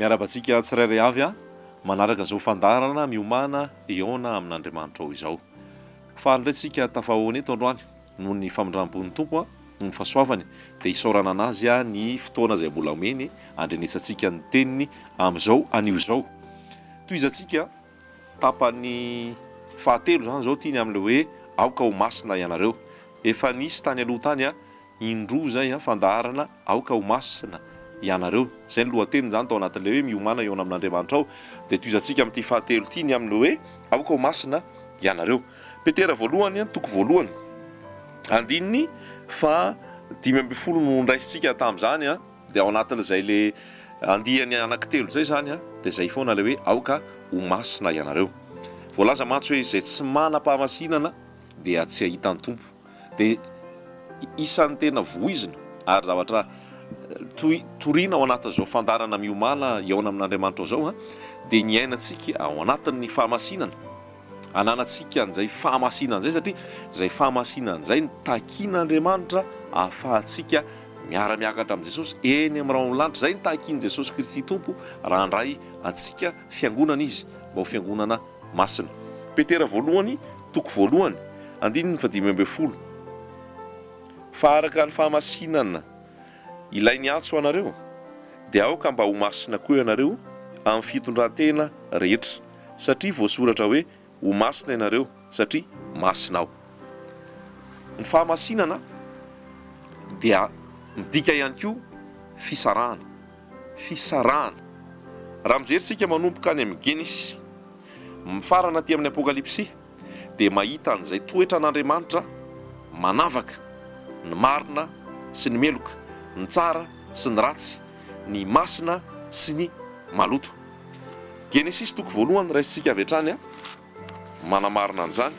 Miarahaba antsika tsirairay avy a manaraka izao fandaharana miomana eona amin'Andriamanitra ao izao. Faly indray tsika tafahaona eto androany Noho ny famindram-pon'ny Tompo, noho ny fahasoavany, dia isaorana an'Azy ny fotoana izay mbola omeny handrenesantsika ny Teniny amin'izao anio izao. Tohizantsika tapany fahatelo izany izao ity ny amin'ilay hoe, Aoka ho masina ianareo. Efa nisy tany aloha tany indroa izay fandaharana, Aoka ho masina ianareo. Izay ny lohateny izany tao anatin'ilay hoe, Miomàna hihaona amin'Andriamanitra aho. Dia tohizantsika amin'ity fahatelo ity ny amin'ilay hoe, Aoka ho masina ianareo. Petera voalohany, toko voalohany, andininy faha dimy ambin'ny folo no niraisintsika tamin'izany, dia ao anatin'izay le andiany anaky telo izay izany dia izay foana ilay hoe aoka ho masina ianareo. Voalaza mantsy hoe izay tsy manam-pahamasinana dia tsy hahita ny Tompo. Dia isan'ny tena voizina ary zavatra toy toriana ao anatin'izao fandaharana miomàna hihaona amin'Andriamanitra izao dia ny iainantsika ao anatin'ny fahamasinana. ananantsika an'izay fahamasinana izay satria izay fahamasinana izay no takin'Andriamanitra ahafahantsika miara-miakatra amin'i Jesosy eny amin'ny rahon'ny lanitra. Izay no takin'i Jesosy Kristy Tompo raha handray antsika fiangonana Izy mba ho fiangonana masina. Petera voalohany toko voalohany andininy fahadimy ambin'ny folo Fa araka ny fahamasinana Ilay niantso anareo, dia aoka mba ho masina koa ianareo amin'ny fitondrantena rehetra. satria voasoratra hoe, Ho masina ianareo, satria masina Aho. Ny fahamasinana dia midika ihany koa fisarahana, fisarahana. Raha mijery isika manomboka any amin'ny Genesisy mifarana aty amin'ny Apokalypsy, dia mahita an'izay toetran' Andriamanitra manavaka ny marina sy ny meloka, ny tsara sy ny ratsy, ny masina sy ny maloto. Genesisy toko voalohany raisintsika avy hatrany a, manamarina an'izany.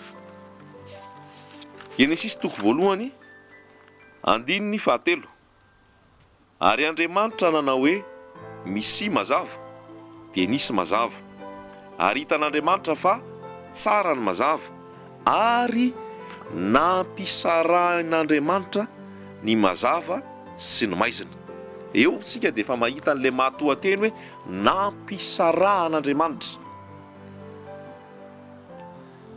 Genesisy toko voalohany andininy fahatelo. Ary Andriamanitra nanao hoe, Misia mazava, dia nisy mazava. Ary hitan'Andriamanitra fa tsara ny mazava, ary nampisarahin'Andriamanitra ny mazava sy ny maizina. Eo isika dia efa mahita an'ilay matoanteny hoe nampisarahan'Andriamanitra.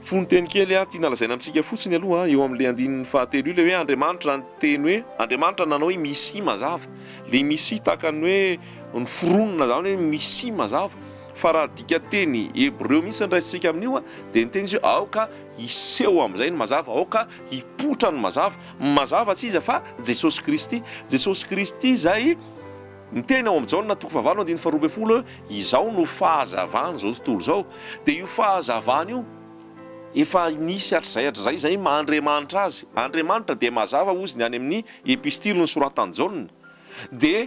Fononteny kely aho tiana lazaina amintsika fotsiny aloha, eo amin'ilay andininy fahatelo io, ilay hoe Andriamanitra ny teny hoe Andriamanitra nanao hoe misy mazava. Ilay misy tahaka ny hoe noforonina izany hoe misy mazava. Fa raha dikanteny hebreo mihitsy no raisintsika amin'io dia niteny izy hoe aoka hiseho amin'izay ny mazava, aoka hipoitra ny mazava. Mazava tsy iza fa Jesosy Kristy. Jesosy Kristy izay. Ny teny ao amin'ny Jaona toko fahavalo andininy faharoa ambin'ny folo hoe izao no fahazavan'izao tontolo izao dia io fahazavana io efa nisy hatrizay hatrizay izay maha Andriamanitra azy. Andriamanitra dia mazava hozy ny any amin'ny epistily nosoratan'i Jaona dia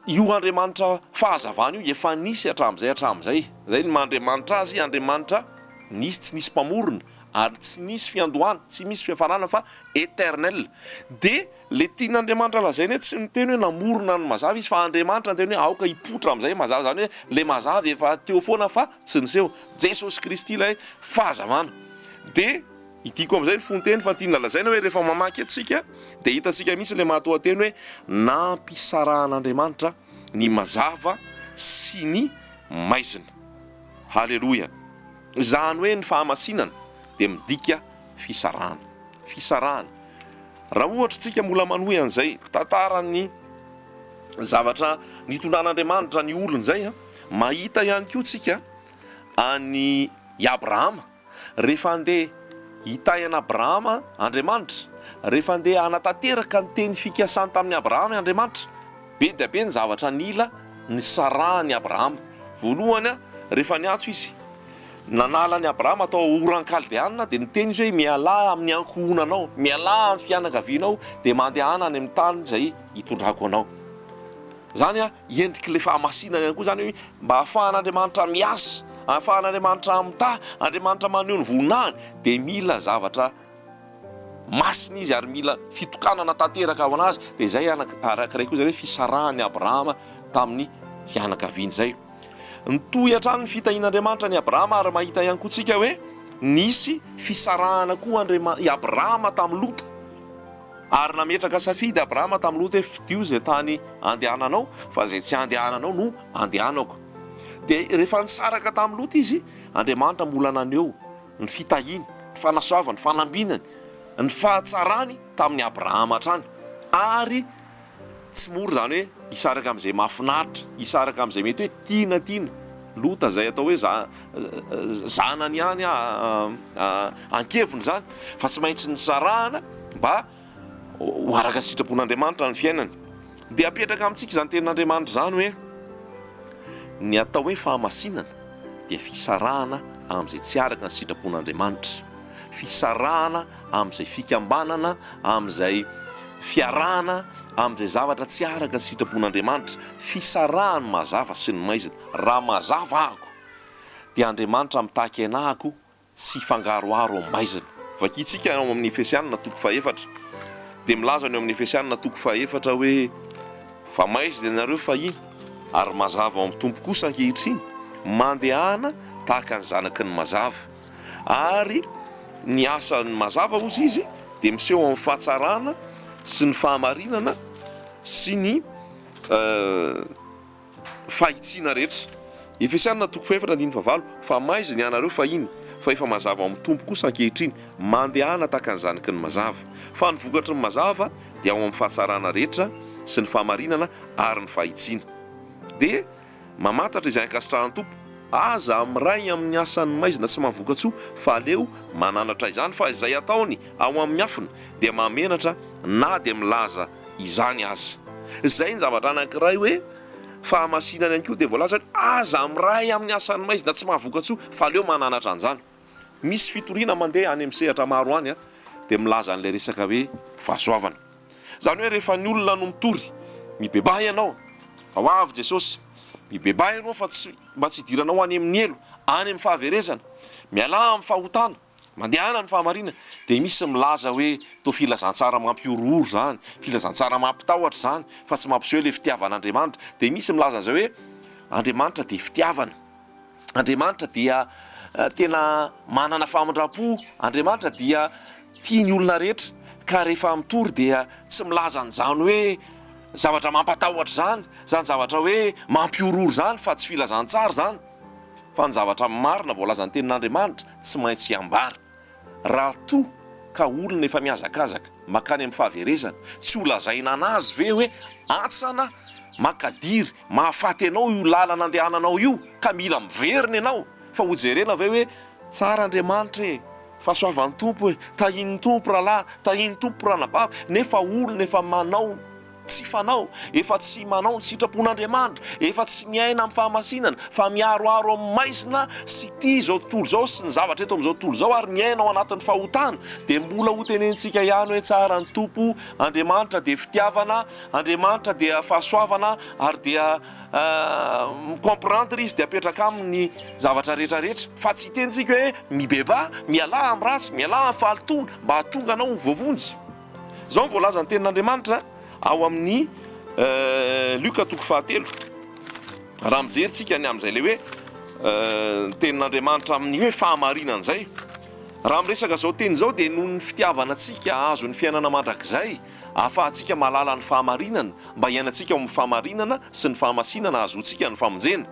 io Andriamanitra fahazavana io efa nisy hatramin'izay hatramin'izay izay ny maha Andriamanitra azy, Andriamanitra nisy tsy nisy mpamorona ary tsy nisy fiandohana, tsy misy fiafarana fa eternel dia Ilay tian'Andriamanitra lazaina eto tsy miteny hoe namorona ny mazava izy fa Andriamanitra niteny hoe aoka hipoitra amin'izay mazava, izany hoe ilay mazava efa teo foana fa tsy niseho. Jesosy Kristy ilay fahazavana. Dia idiako amin'izay ny fonteny fa tiana lazaina hoe rehefa mamaky eto isika dia hitantsika mihitsy ilay mahatoanteny hoe nampisarahan'Andriamanitra ny mazava sy ny maizina. Haleloia. Izany hoe ny fahamasinana dia midika fisarahana. Fisarahana. Raha ohatra isika mbola manohy an'izay tantaran'ny zavatra nitondran'Andriamanitra ny olony izay, mahita ihany koa isika an'i Abrahama, rehefa andeha hitahy an'Abrahama Andriamanitra, rehefa andeha hanatanteraka ny teny fikasany tamin'i Abrahama Andriamanitra, Be dia be ny zavatra nila ny Saraha an'i Abrahama. Voalohany, rehefa niantso izy, nanala an'i Abrahama tao Oran Kaldeana, dia niteny izy hoe, Mialà amin'ny ankohonanao, mialà amin'ny fianakavianao, dia mandehana any amin'ny tany izay hitondrako anao. Izany endrik'ilay fahamasinana ihany koa izany hoe mba hahafahan'Andriamanitra miasa, hahafahan'Andriamanitra mitahy, Andriamanitra maneho ny voninahiny dia mila zavatra Masina izy ary mila fitokanana tanteraka ho an'azy, dia izay anaka araka iray koa izay hoe fisarahan'i Abrahama tamin'ny fianakaviany izay. Nitohy hatrany ny fitahian'Andriamanitra an'i Abrahama ary mahita ihany koa tsika hoe nisy fisarahana koa Andriama- i Abrahama tamin'i Lota. Ary nametraka safidy Abrahama tamin'i Lota hoe fidio izay tany andehananao fa izay tsy andehananao no andehanako. Dia rehefa nisaraka tamin'i Lota izy, Andriamanitra mbola naneho ny fitahiany, ny fanasoavany, ny fanambinany, ny fahatsarany tamin'i Abrahama hatrany, ary tsy mora izany hoe hisaraka amin'izay mahafinaritra, hisaraka amin'izay mety hoe tiana tiana, Lota izay atao hoe zanany ihany ankeviny izany fa tsy maintsy nisarahana mba ho araka ny sitrapon'Andriamanitra ny fiainany. Dia apetraka amintsika izany tenin'Andriamanitra izany hoe, Ny atao hoe fahamasinana dia fisarahana amin'izay tsy araka ny sitrapon'Andriamanitra, fisarahana amin'izay fikambanana, amin'izay fiarahana, amin'izay zavatra tsy araka ny sitrapon'Andriamanitra, fisarahan'ny mazava sy ny maizina. Raha mazava ahako, dia Andriamanitra mitaky aina ahako tsy hifangaroharo amin'ny maizina. Vakintsika ao amin'ny Efesianina toko fahefatra, dia milaza ny ao amin'ny Efesianina toko fahefatra hoe, Fa maizina ianareo fahiny, ary mazava ao amin'ny Tompo kosa ankehitriny, mandehana tahaka ny zanaky ny mazava. Ary ny asan'ny mazava, hozy izy, dia miseho amin'ny fahatsarana sy ny fahamarinana sy ny. fahitsiana rehetra. Efesiana toko fahefatra andininy fahavalo, Fa maizina hianareo fahiny, fa efa mazava ao amin'ny Tompo kosa ankehitriny, mandehana tahaka ny zaniky ny mazava. Fa ny vokatry ny mazava dia ao amin'ny fahatsarana rehetra sy ny fahamarinana ary ny fahitsiana. Dia mamantatra izay ankasitrahan'ny Tompo, Aza miray amin'ny asan'ny maizina tsy maha-vokatsoa, fa aleo mananatra izany, fa izay ataony ao amin'ny afona dia mahamenatra na dia milaza izany aza. Izay ny zavatra anankiray hoe fahamasinana ihany koa dia voalaza hoe aza miray amin'ny asan'ny maizina tsy mahavokatsoa fa aleo mananatra an'izany. Misy fitoriana mandeha any amin'ny sehatra maro any dia milaza an'ilay resaka hoe fahasoavana. Izany hoe rehefa ny olona no mitory, mibebaha ianao fa ho avy Jesosy, mibebaha ianao fa tsy mba tsy hidiranao any amin'ny helo, any amin'ny fahaverezana. Mialà amin'ny fahotana. Mandehana ny fahamarinana dia misy milaza hoe toa filazantsara mampihorohoro izany, filazantsara mampitahotra izany fa tsy mampiseho ilay fitiavan'Andriamanitra. Dia misy milaza an'izay hoe Andriamanitra dia fitiavana, Andriamanitra dia tena manana famindram-po, Andriamanitra dia tia ny olona rehetra ka rehefa mitory dia tsy milaza an'izany hoe zavatra mampatahotra izany, izany zavatra hoe mampihorohoro izany fa tsy filazantsara izany. fa ny zavatra marina voalazan'ny Tenin'Andriamanitra tsy maintsy hiambara. Raha toa ka olona efa mihazakazaka mankany amin'ny fahaverezana, tsy holazaina an'azy ve hoe, Antsana, mankadiry, mahafaty anao io lalana andehananao io, ka mila miverina ianao? Fa hojerena ve hoe, Tsara Andriamanitra e! Fahasoavan'ny Tompo e! Tahian'ny Tompo rahalahy, tahian'ny Tompo ranabavy, nefa olona efa manao. Tsy fanao, efa tsy manao ny sitrapon'Andriamanitra, efa tsy miaina amin'ny fahamasinana, fa miharoharo amin'ny maizina sy ity izao tontolo izao sy ny zavatra eto amin'izao tontolo izao ary miaina ao anatin'ny fahotana, dia mbola hotenenintsika ihany hoe tsara ny Tompo, Andriamanitra dia fitiavana, Andriamanitra dia fahasoavana ary dia mi-comprendre Izy dia apetraka aminy ny zavatra rehetra rehetra, fa tsy hitenintsika hoe mibebaha, mialà amin'ny ratsy, mialà amin'ny fahalotoana, mba hahatonga anao ho voavonjy. Izao no voalazan'ny Tenin'Andriamanitra ao amin'ny Lioka toko fahatelo, raha mijery tsika ny amin'izay ilay hoe ny Tenin'Andriamanitra amin'ny hoe fahamarinana izay. Raha miresaka izao teny izao dia noho ny fitiavana antsika hahazo ny fiainana mandrakizay, ahafahantsika mahalala ny fahamarinana, mba hiainantsika ao amin'ny fahamarinana sy ny fahamasinana hahazoantsika ny famonjena.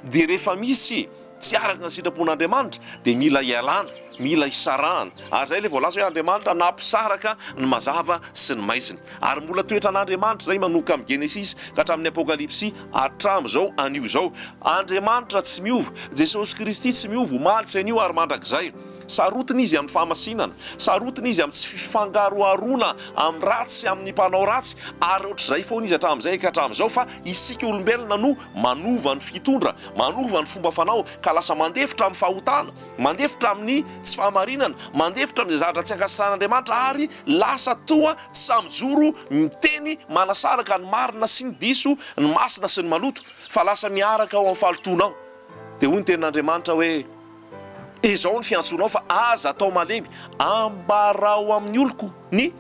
Dia rehefa misy. tsy araka ny sitrapon'Andriamanitra dia mila ialana, mila isarahana, ary izay ilay voalaza hoe Andriamanitra nampisaraka ny mazava sy ny maizina. Ary mbola toetran'Andriamanitra izay manomboka amin'ny Genesisy ka hatramin'ny Apokalypsy hatramin'izao anio izao. Andriamanitra tsy miova. Jesosy Kristy tsy miova omaly sy anio ary mandrakizay. Sarotiny Izy amin'ny fahamasinana. Sarotiny Izy amin'ny tsy fifangaroharoana amin'ny ratsy sy amin'ny mpanao ratsy, ary ohatr'izay foana Izy hatramin'izay ka hatramin'izao fa isika olombelona no Manova ny fitondra, manova ny fomba fanao, ka lasa mandefitra amin'ny fahotana, mandefitra amin'ny tsy fahamarinana, mandefitra amin'izay zavatra tsy ankasitrahan'Andriamanitra, ary lasa toa tsy sahy mijoro miteny manasaraka ny marina sy ny diso, ny masina sy ny maloto, fa lasa miaraka ao amin'ny fahalotoana ao. Dia hoy ny Tenin'Andriamanitra hoe. Izao ny fiantsonao fa aza atao malemy, ambarao amin'ny oloko ny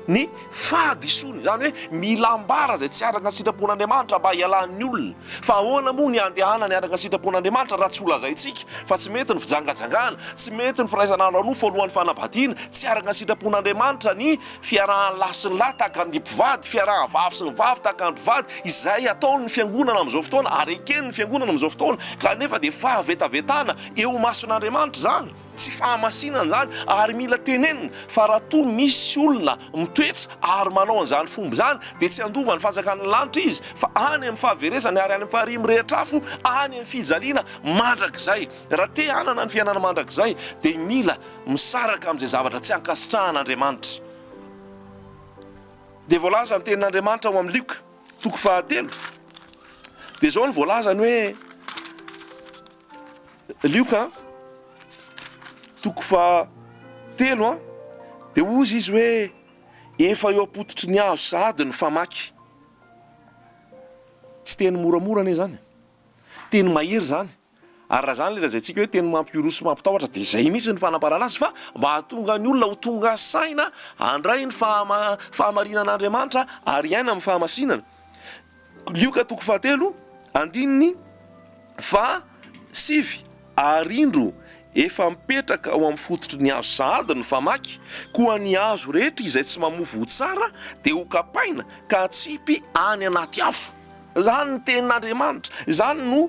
ny fahadisoany, izany hoe mila ambara izay tsy araka ny sitrapon'Andriamanitra mba hialan'ny olona, fa ahoana moa ny handehanany araka ny sitrapon'Andriamanitra raha tsy holazaintsika fa tsy mety ny fijangajangana, tsy mety ny firaisana ara-nofo alohan'ny fanambadiana, tsy araka ny sitrapon'Andriamanitra ny Fiarahan'ny lahy sy ny lahy tahaka ny mpivady, fiarahan'ny vavy sy ny vavy tahaka ny mpivady, izay ataon'ny Fiangonana amin'izao fotoana ary eken'ny Fiangonana amin'izao fotoana, kanefa dia fahavetavetana eo imason'Andriamanitra izany, tsy fahamasinana izany, ary mila tenenina fa raha toa misy olona mitoetra ary manao an'izany fomba izany dia tsy handova ny fanjakan'ny lanitra izy fa any amin'ny fahaverezany ary any amin'ny faharian'ny mirehitra afo, any amin'ny fijaliana mandrakizay. Raha te hanana ny fiainana mandrakizay dia mila misaraka amin'izay zavatra tsy ankasitrahan'Andriamanitra. Dia voalaza ny tenin'Andriamanitra ao amin'ny Lioka toko fahatelo, dia izao no voalazany hoe, Lioka toko fahatelo an, dia hozy izy hoe, efa eo am-pototry ny azo sahady ny famaky. Tsy teny moramora anie izany e, teny mahery izany. Ary raha izany ilay lazaintsika hoe teny mampiroso sy mampitahotra dia izay mihitsy ny fanambarana azy fa mba hahatonga ny olona ho tonga saina handray ny fahamarinan'Andriamanitra ary hiaina amin'ny fahamasinana. Lioka toko fahatelo andininy faha sivy Ary indro, efa mipetraka ao amin'ny fototry ny hazo sahady ny famaky, koa ny hazo rehetra izay tsy mamofo ho tsara dia ho kapaina ka atsipy any anaty afo. Izany ny tenin'Andriamanitra, izany no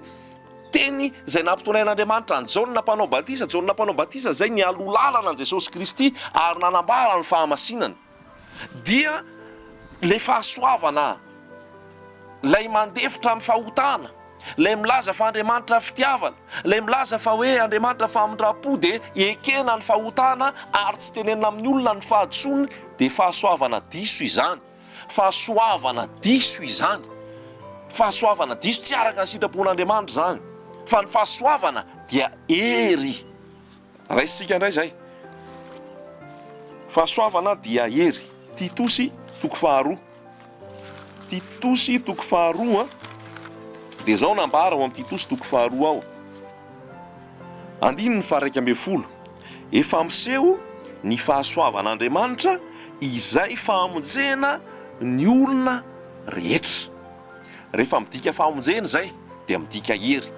Teny izay nampitonhain'Andriamanitra an'i Jaona Mpanao Batisa, Jaona Mpanao Batisa izay nialoha lalana an'i Jesosy Kristy ary nanambara ny fahamasinany, dia ilay fahasoavana, ilay mandefitra amin'ny fahotana, ilay milaza fa Andriamanitra fitiavana, ilay milaza fa hoe Andriamanitra famindram-po, dia ekena ny fahotana ary tsy tenenina amin'ny olona ny fahadisoany, dia fahasoavana diso izany. Fahasoavana diso izany. Fahasoavana diso, tsy araka ny sitrapon'Andriamanitra izany. Fa ny fahasoavana dia hery. Raisintsika indray izay. Fahasoavana dia hery. Titosy toko faharoa. Titosy toko faharoa, dia izao no ambara ao amin'ny Titosy toko faharoa ao. Andininy faha-iraika ambin'ny folo, Efa miseho ny fahasoavan'Andriamanitra izay famonjena ny olona rehetra. Rehefa midika famonjena izay dia midika hery.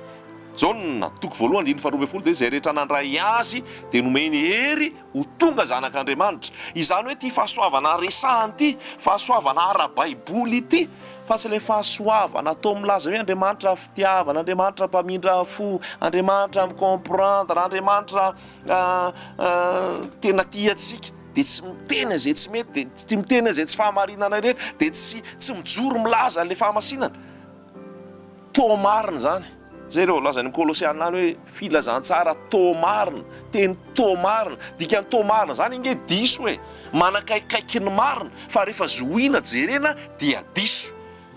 Jaona, toko voalohany, andininy faharoa ambin'ny folo, Dia izay rehetra nandray Azy dia nomeny hery ho tonga zanak'Andriamanitra. Izany hoe ity fahasoavana resahany ity, fahasoavana ara-baiboly ity, fa tsy ilay fahasoavana toa milaza hoe Andriamanitra fitiavana, Andriamanitra mpamindra fo, Andriamanitra mi-comprendre, Andriamanitra tena tia antsika, dia tsy miteny an'izay tsy mety, dia tsy miteny an'izay tsy fahamarinana ireny, dia tsy mijoro milaza an'ilay fahamasinana. Toa marina izany izay rehefa voalazan'ny Kolosiana any hoe filazantsara toa marina, teny toa marina. Dikan'ny toa marina izany ange diso e! Manakaikikaiky ny marina fa rehefa zohiana, jerena dia diso.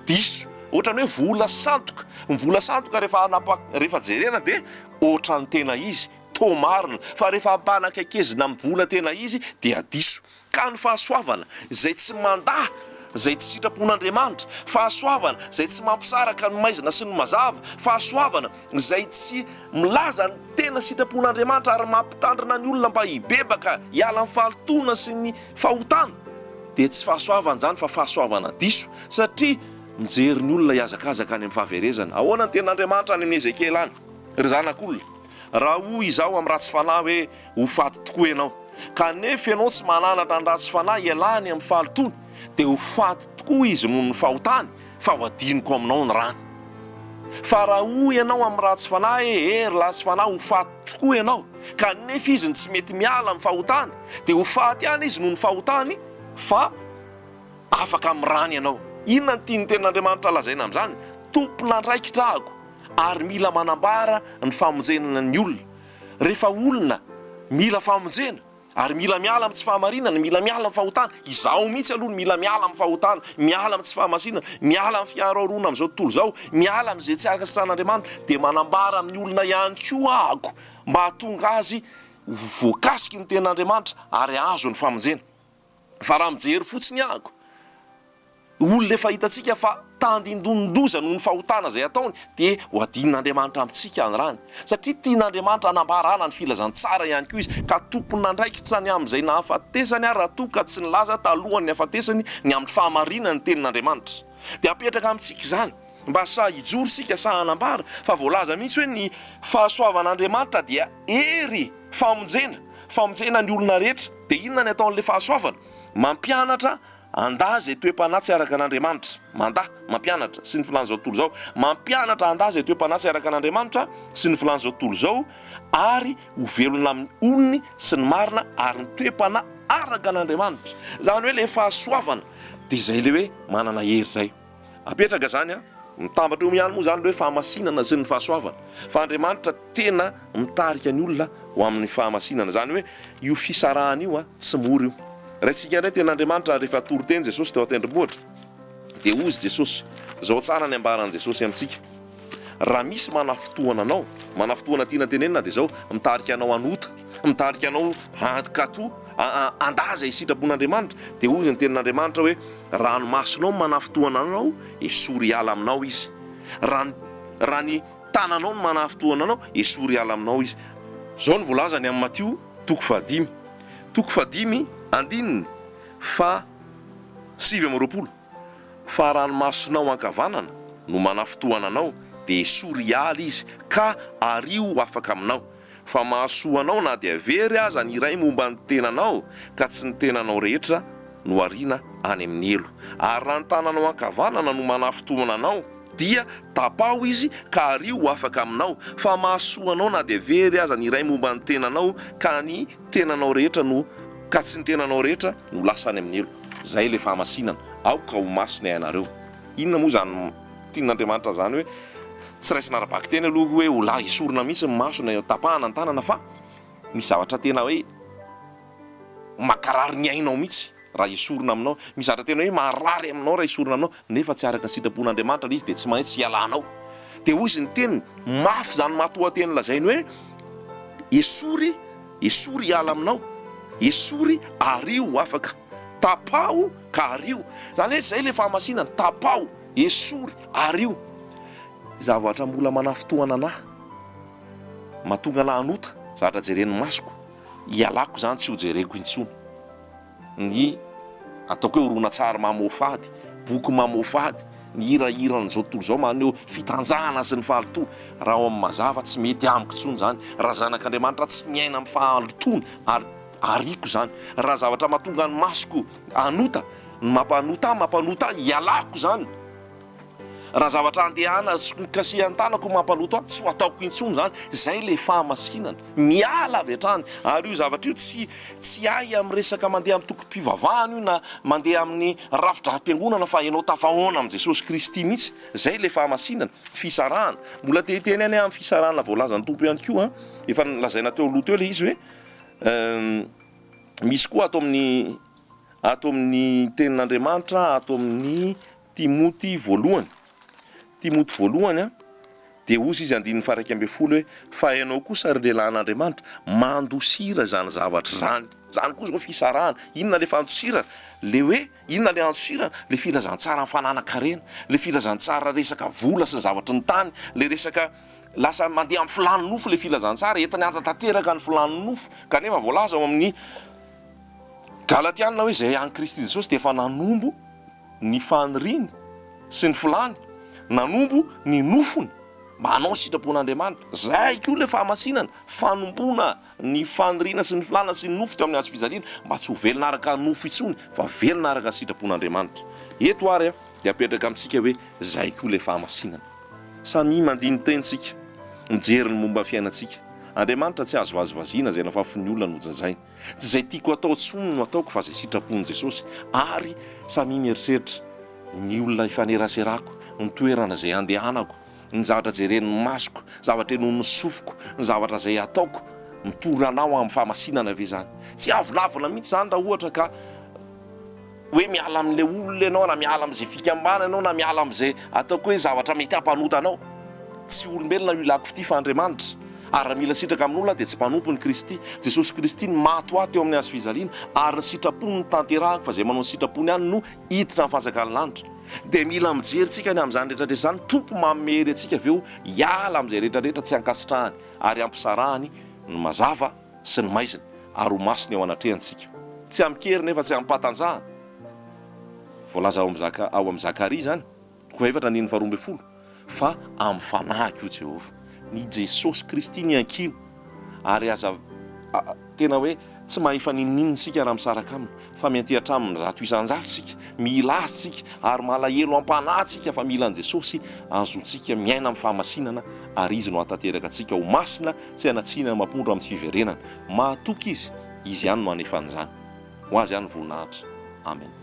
Diso. Ohatran'ny hoe vola sandoka. Ny vola sandoka rehefa hanapa- rehefa jerena dia ohatran'ny tena izy, toa marina, fa rehefa ampanakaikezina amin'ny vola tena izy dia diso. Ka ny fahasoavana izay tsy mandà izay tsy sitrapon'Andriamanitra, fahasoavana izay tsy mampisaraka ny maizina sy ny mazava, fahasoavana izay tsy milaza ny tena sitrapon'Andriamanitra ary mampitandrina ny olona mba hibebaka hiala amin'ny fahalotoana sy ny fahotana, dia tsy fahasoavana izany fa fahasoavana diso, satria mijery ny olona hihazakazaka any amin'ny fahaverezana. Ahoana ny tenin'Andriamanitra any amin'i Ezekiela any, ry zanak'olona? Raha hoy izaho amin'ny ratsy fanahy hoe. Ho faty tokoa ianao. Kanefa ianao tsy mananatra ny ratsy fanahy ialany amin'ny fahalotoany, dia ho faty tokoa izy noho ny fahotany, fa ho adinoko aminao ny rany. Fa raha hoy ianao amin'ny ratsy fanahy, Ee, ry latsy fanahy, ho faty tokoa ianao, kanefa izy no tsy mety miala amin'ny fahotany, dia ho faty ihany izy noho ny fahotany, fa afaka amin'ny rany ianao. Inona no tian'ny Tenin'Andriamanitra lazaina amin'izany? Tompon'andraikitra aho, ary mila manambara ny famonjena ny olona. Rehefa olona mila famonjena ary mila miala amin'ny tsy fahamarinana, mila miala amin'ny fahotana, izaho mihitsy aloha no mila miala amin'ny fahotana, miala amin'ny tsy fahamasinana, miala amin'ny fiharoharoana amin'izao tontolo izao, miala amin'izay tsy araka ny sitrahan'Andriamanitra, dia manambara amin'ny olona ihany koa aho mba hahatonga azy ho voakasiky ny tenin'Andriamanitra ary hahazo ny famonjena. Fa raha mijery fotsiny aako olona efa hitantsika fa tandindonin-doza noho ny fahotana izay ataony dia ho adin'Andriamanitra amintsika any rany. Satria tian'Andriamanitra hanambarana ny filazantsara ihany koa izy ka tompon'andraikitra ny amin'izay nahafatesany ary raha toa ka tsy nilaza talohan'ny hafatesany ny amin'ny fahamarinan'ny tenin'Andriamanitra dia apetraka amintsika izany Mba sahy hijoro isika, sahy hanambara fa voalaza mihitsy hoe ny fahasoavan'Andriamanitra dia hery, famonjena, famonjena ny olona rehetra. Dia inona ny ataon'ilay fahasoavana? Mampianatra andahy izay toe-panahy tsy araka an'Andriamanitra. Mandahy, mampianatra, sy ny filàn'izao tontolo izao. Mampianatra andahy izay toe-panahy tsy araka an'Andriamanitra sy ny filàn'izao tontolo izao ary ho velona amin'ny onony sy ny marina ary ny toe-panahy araka an'Andriamanitra. Izany hoe ilay fahasoavana dia izay ilay hoe manana hery izay. Apetraka izany an! Mitambatra eo ihany moa izany ilay hoe fahamasinana sy ny fahasoavana. Fa Andriamanitra tena mitarika ny olona ho amin'ny fahamasinana. Izany hoe io fisarahana io an, tsy mora io. Raisintsika indray ny teny Andriamanitra rehefa toriteny Jesosy teo an-tendrombohitra. Dia hozy Jesosy. Izao tsara ny ambaran'i Jesosy amintsika. Raha misy manafintohana anao, manafintohana tiana tenenina dia izao, mitarika anao any ota, mitarika anao any katu, andaza isitrapon'Andriamanitra, dia hoy ny tenin'Andriamanitra hoe, ranomasonao no manafintohana anao, esory hiala aminao izy. Raha ny, raha ny tananao no manafintohana anao, esory hiala aminao izy. Izao no voalazany amin'i Matio toko fahadimy, toko fahadimy, andininy faha sivy amby roapolo. Fa ranomasonao ankavanana no manafintohana anao dia esory hiala izy ka ariho ho afaka aminao, fa mahasoa anao na dia very aza ny iray momba ny tenanao ka tsy ny tenanao rehetra no ariana any amin'ny helo. Ary raha ny tananao ankavanana no manafintohana anao dia tapaho izy ka ariho ho afaka aminao, fa mahasoa anao na dia very aza ny iray momba ny tenanao ka ny tenanao rehetra no ka tsy ny tenanao rehetra no lasa any amin'ny helo. Izay ilay fahamasinana. Aoka ho masina ianareo. Inona moa izany tian'Andriamanitra izany hoe tsy raisina ara-bakiteny aloha hoe ho lahy esorina mihitsy ny maso na tapahana ny tanana fa misy zavatra tena hoe mankarary ny ainao mihitsy. Raha esorina aminao. Mizatra tena hoe marary aminao raha esorina aminao, nefa tsy araka ny sitrapon'Andriamanitra ilay izy dia tsy maintsy hialanao. Dia hoy izy ny teniny, mafy izany matoanteny lazainy hoe, esory, esory hiala aminao, esory ario ho afaka, tapaho ka ario. Izany hoe izay ilay fahamasinana, tapaho, esory, ario. Zavatra mbola manafintohina anà, mahatonga anà hanota, zavatra jeren'ny masoko, ialako izany tsy ho jereko intsony. ny ataoko hoe horonantsary mamoafady, boky mamoafady, ny hirahiran'izao tontolo izao maneho fitanjahana sy ny fahalotoana. Raha ao amin'ny mazava, tsy mety amiko intsony izany. Raha zanak'Andriamanitra, tsy miaina amin'ny fahalotoana ary ariako izany. Raha zavatra mahatonga ny masoko hanota, ny mampanota ahy mampanota ahy, ialako izany. Raha zavatra andehana sy hokasihan-tanako mampaloto ahy, tsy ho ataoko intsony izany. Izay ilay fahamasinana. Miala avy hatrany. Ary io zavatra io tsy tsy ahy amin'ny resaka mandeha amin'ny tokim-pivavahana io na mandeha amin'ny rafi-drampiangonana fa ianao tafahaona amin'i Jesosy Kristy mihitsy. Izay ilay fahamasinana. Fisarahana. Mbola te hiteny any aho amin'ny fisarahana voalazan'ny Tompo ihany koa an. Efa nolazaina teo aloha teo ilay izy hoe misy koa ato amin'ny ato amin'ny tenin'Andriamanitra, ato amin'ny Timoty voalohany, Timoty voalohany a, dia hozy izy andininy faharaika ambin'ny folo hoe, fa ianao kosa ry lehilahy an'Andriamanitra, mandosira izany zavatra izany. Izany koa izao fisarahana. Inona ilay fandosirana? Ilay hoe, inona ilay andosirana? Ilay filazantsaran'ny fananan-karena, ilay filazantsara resaka vola sy ny zavatry ny tany, ilay resaka lasa mandeha amin'ny filàn'ny nofo ilay filazantsara, entiny hanatanteraka ny filàn'ny nofo. Kanefa voalaza ao amin'ny Galatiana hoe izay an'i Kristy Jesosy dia efa nanombo. ny faniriany sy ny filany nanompo ny nofony mba hanao ny sitrapon'Andriamanitra. Izay koa ilay fahamasinana, fanompoana ny faniriana sy ny filana sy ny nofo teo amin'ny hazo fijaliana mba tsy ho velona araka nofo intsony fa velona araka ny sitrapon'Andriamanitra. Eto ary dia apetraka amintsika hoe izay koa ilay fahamasinana. Samia mandini-teny isika mijery ny momba ny fiainantsika. Andriamanitra tsy azo vazivaziana izay lafafy ny olona nojajainy. Tsy izay tiako atao intsony no ataoko fa izay sitrapon'i Jesosy ary samia mieritreritra ny olona ifaneraserako, ny toerana izay andehanako, ny zavatra jeren'ny masoko, zavatra inoan'ny sofiko, ny zavatra izay ataoko. Mitory anao amin'ny fahamasinana ve izany? Tsy avolavona mihitsy izany raha ohatra ka. hoe miala amin'ilay olona ianao na miala amin'izay fikambana ianao na miala amin'izay ataoko hoe zavatra mety hampanota anao. Tsy olombelona io ilako ity fa Andriamanitra. Ary raha mila sitraka amin'olona aho dia tsy mpanompony Kristy. Jesosy Kristy no maty ho ahy teo amin'ny hazo fijaliana ary ny sitrapony no tanterahako fa izay manao ny sitrapony ihany no hiditra amin'ny fanjakan'ny lanitra. Dia mila mijery tsika ny amin'izany rehetrarehetra izany ny Tompo manome hery antsika avy eo hiala amin'izay rehetrarehetra tsy ankasitrahany ary ampisarahany ny mazava. sy ny maizina ary ho masina eo anatrehany isika. Tsy amin-kery nefa tsy amim-pahatanjahana. Voalaza ao amin'ny ao amin'ny Zakaria izany, toko efatra andininy faharoa ambin'ny folo, fa amin'ny fanahiko io Jehovah. Ny Jesosy Kristy ny iankiana, ary aza tena hoe tsy mahefa n'inon'inona isika raha misaraka aminy. fa mianteha hatramin'ny zato isan-jato isika, mila Azy isika, ary malahelo am-panahy isika fa mila an'i Jesosy, azontsika miaina amin'ny fahamasinana, ary Izy no hahatanteraka antsika ho masina, tsy hanatsihina ny mampondro amin'ny fiverenany. Mahatoky Izy, Izy ihany no hanefa an'izany. Ho Azy ihany ny voninahitra. Amena.